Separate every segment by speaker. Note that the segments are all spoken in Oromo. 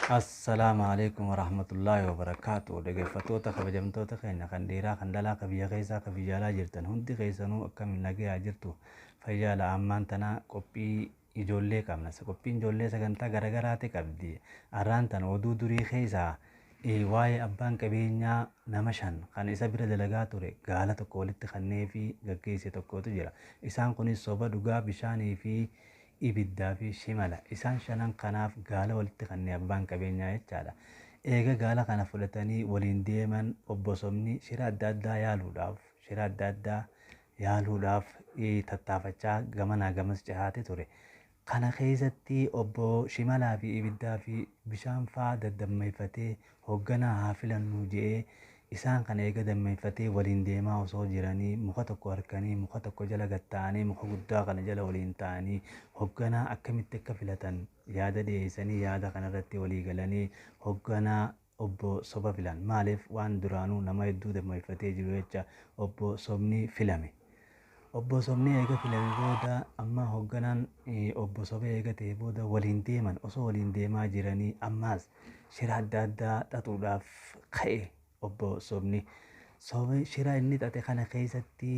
Speaker 1: Assalaamu alaikum warahmatullaahi wabarakaatu dhaggeeffattoota kabajamtoota keenya kan dhiiraa kan dhalaa kan biyya keessaa kan biyya alaa jirtan hundi keessanuu akkamiin nagayaa jirtu Fayyaala ammaan tana qophii ijoollee qabna. Qophiin ijoollee sagantaa garagaraati qabdi. Arraan tana oduu durii keessaa waa'ee abbaan qabeenyaa nama shan kan isa bira dalagaa ture gaala tokko walitti kannee fi gaggeesse tokkotu jira. Isaan kunis soba dhugaa bishaanii fi ibiddaa fi shimala. Isaan shanan kanaaf gaala walitti kannee abbaan qabeenyaa jechaadha. Eega gaala kana fudhatanii waliin deeman obbo Sobni shira adda addaa yaaluudhaaf shira adda addaa yaaluudhaaf tattaafachaa gamanaa gamas cehaati ture. Kana keessatti obbo Shimalaafi ibiddaafi bishaan faa daddammeeffatee hogganaa haa filannu je'ee isaan kana eega dammeeffatee waliin deemaa osoo jiranii muka tokko arkanii muka tokko jala gad taa'anii muka guddaa kana jala waliin taa'anii hogganaa akkamitti akka filatan yaada dhiyeessanii yaada kanarratti walii galanii hogganaa Obbo soba filan. Maaliif? Waan duraanuu nama hedduu dammayfatee jiru jecha Obbo sobni filame. Obbo sobni eega filame booda amma hogganaan Obbo soba eega ta'e booda waliin deeman. Osoo waliin deemaa jiranii ammaas shira adda addaa xaxuudhaaf ka'e Obbo sobni. Soba shira inni xaxe kana keessatti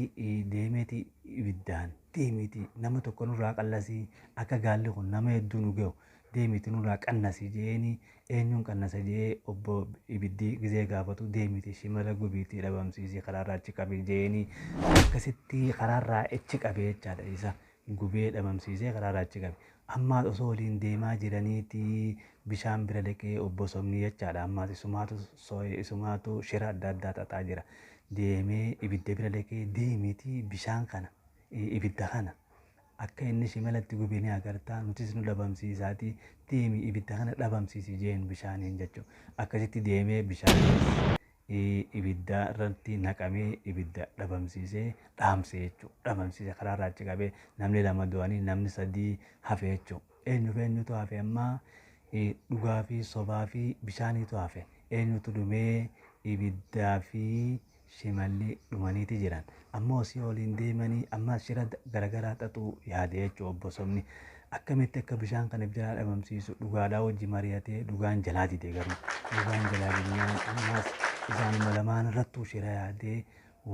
Speaker 1: deemeeti ibiddaan deemiiti nama tokko nurraa qallasii akka gaalli kun nama hedduu nu gahu deemiti nurraa qannasi je'eeni eenyuun qannasa je'ee obbo ibiddi gizee gaafatu deemiti shimala gubiiti dhabamsiisi karaarraa achi qabi je'eeni akkasitti karaarraa achi qabe jechaadha isa gubee dhabamsiisee karaarraa achi qabe ammaas osoo waliin deemaa jiraniiti bishaan bira dhaqee obbo sobni jechaadha ammaas isumaatu sooye isumaatu shira adda addaa xaxaa jira deemee ibidda bira dhaqee deemiti bishaan kana ibidda kana Akka inni shimala itti gube ni agarta, nutis nu dhabamsiisaati deemi ibidda kana dhabamsiisi jeen bishaaniin jechu. Akkasitti deemee bishaanis ibidda irratti naqamee ibidda dhabamsiisee dhaamse jechu. Dhabamsiise karaa irraa achi qabee namni lama du'anii namni sadii hafe jechu. Eenyuuf eenyutu hafe ammaa dhugaa fi sobaa fi bishaaniitu hafe. Eenyutu dhumee ibiddaa fi shimalli dhumaniiti jiran. Amma osii oliin deemanii ammaas shira garagaraa xaxuu yaade jechuudha obbo Sobni. Akkamitti akka bishaan kana jalaa dhabamsiisu dhugaadhaa wajji mari'atee dhugaan jalaa dide garuu. Dhugaan jalaa didnaan ammaas isaanuma lamaan irrattuu shira yaadee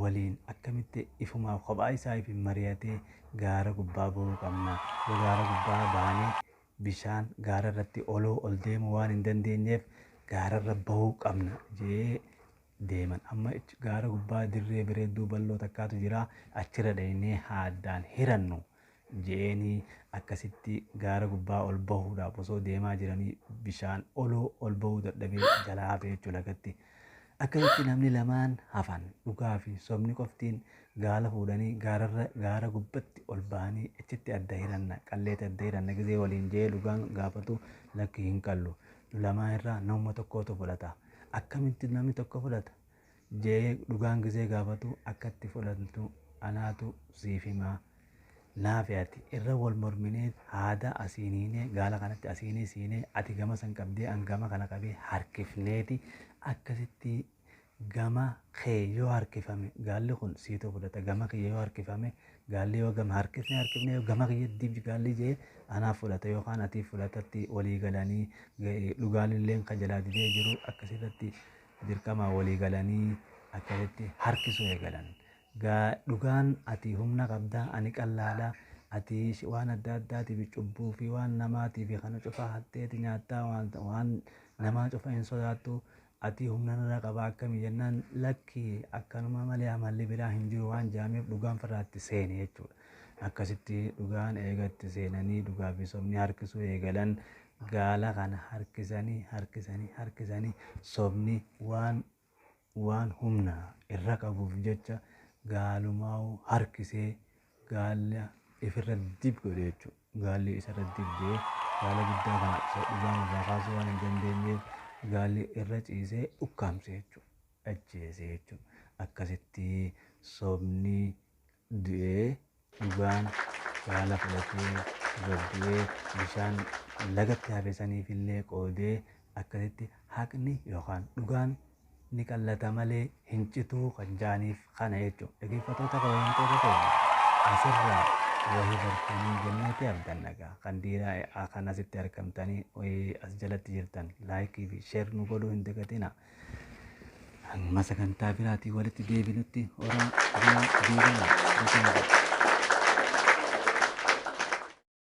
Speaker 1: waliin akkamitti ifumaa kophaa isaa ifiin mari'atee gaara gubbaa ba'uu qabna. Yoo gaara gubbaa baanee bishaan gaara irratti oloo ol deemuu waan hin dandeenyeef gaara irra ba'uu qabna jedhee deeman. Amma icc gaara gubbaa dirree bireedduu bal'oo takkaatu jira, achirra dhaynee haa addaan hirannu je'eenii akkasitti gaara gubbaa ol bahuudhaaf osoo deemaa jiranii bishaan oloo ol bahuu dadhabee jalaa hafe jechuu lagatti. Akkasitti namni lamaan hafan dhugaa fi sobni qoftiin gaala fuudhanii gaararra gaara gubbatti ol bahanii achitti adda hiranna qalleeti adda hiranna gizee waliin je'ee dhugaan gaafatu lakki hin qallu nu lamaan irraa namuma tokkootu fudhata. akkamitti namni tokko fudhata jee dhugaan gizee gaafatu akka itti fudhantu anaatu siif himaa naafi ati irra wal morminee haada asiin hiinee gaala kanatti asiin isiinee ati gama san qabdee an gama kana qabee harkifneeti akkasitti gama kee yoo harkifame gaalli kun siitu fudhata gama kiyya yoo harkifame Gaalli yoo gama harkifne harkifne yoo gama kiyyatti gaalli jee anaaf fudhata yookaan atiif fudhatatti walii galanii dhugaan illeen kan jalaa didee jiru akkasirratti dirqamaa walii galanii akkasitti harkisuu eegalan. Gaa dhugaan ati humna qabda ani qallaadha ati waan adda addaatiif cubbuu fi waan namaatiif kana cufaa hatteeti nyaattaa waan namaa cufa hin sodaattu Atii humna nurra qabaa akkami jennaan lakki akkanuma malee amalli biraa hin jiru waan jaameef dhugaan firraa itti seene jechuudha. Akkasitti dhugaan eega itti seenanii dhugaa fi sobni harkisuu eegalan gaala kana harkisanii harkisanii harkisanii sobni waan waan humna irra qabuuf jecha gaalumaa'u harkisee gaala ifirra dib godhe jechuudha. gaalli isa irra dibdee gaala guddaa kana isa dhugaan irraa kaasuu waan hin dandeenyeef gaalli irra ciisee ukkaamse jechuudha. Ajjeese jechuudha. Akkasitti sobni du'ee dhugaan gaala fudhatee irra du'ee bishaan lagatti hafe saniif illee qoodee akkasitti haqni yookaan dhugaan ni qallata malee hin cituu kan jaaniif kana jechuudha. Dhageeffatoota kabajamtoota keenya asirraa wahii bartanii jenneeti abdanna gaa kan diiraa e'aa kan asitti argamtanii wahii as jalatti jirtan laayikii fi sheer nu godhuu hin dagatina. Amma sagantaa biraatiin walitti deebinutti horaa bulaa deebiina.